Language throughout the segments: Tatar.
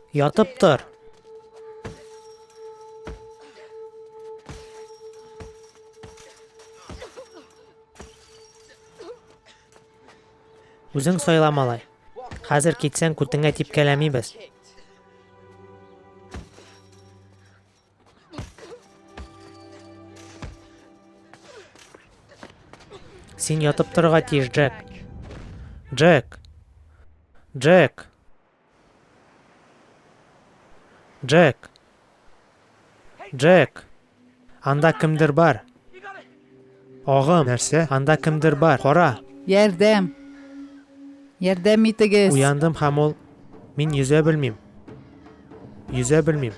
Ятып тор. Үзең сайла малай. Хәзер китсәң күтеңә типкәләмибез. Син ятып торырга тиеш, Джек. Джек. Джек. Джек. Джек. Анда кемдер бар. Агым! Нәрсә? Анда кемдер бар! Кара! Ярдәм! Ярдәм итегез! Уяндым һәм ул, Мин йөзә белмим. Йөзә белмим.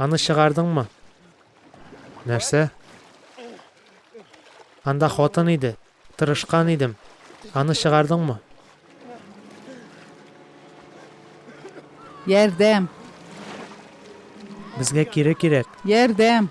Аны чыгардыңмы? Нәрсә? Анда хатын иде. Тырышкан идем. Аны чыгардыңмы? Ярдәм! Безгә кире кирәк. Ярдәм!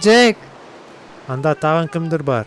Джек! Анда тагын кемдер бар.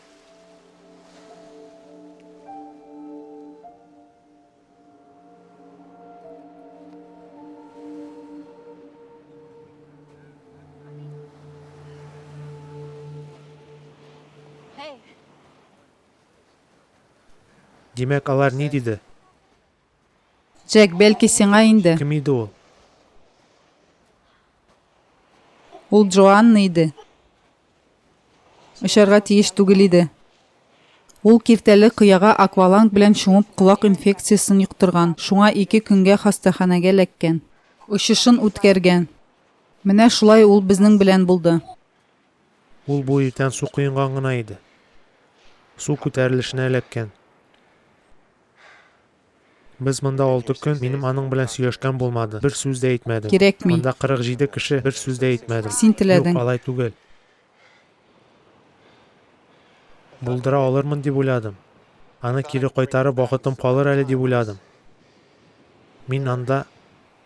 Димәк, алар ни диде? Джек, бәлки сиңа инде. Кем иде ул? Ул Джоанна иде. Очарга тиеш түгел иде. Ул киртәле кыяга акваланг белән чумып колак инфекциясен йоктырган, шуңа ике көнгә хастаханәгә ләккән. Очышын үткәргән. Менә шулай ул безнең белән булды. Ул бу иртән су коенган гына иде. Су күтәрелешенә эләккән. Без монда алты көн, минем аның белән сөйләшкән булмады, бер сүз дә әйтмәдем. Кирәкми. Анда 47 кеше, бер сүз дә әйтмәдем. Син теләдең. Юк, алай түгел. Булдыра алырмын дип уйладым. Аны кире кайтарып вакытым калыр әле дип уйладым. Мин анда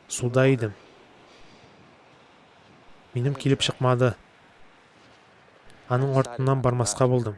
суда идем. Минем килеп чыкмады. Аның артыннан бармаска булдым.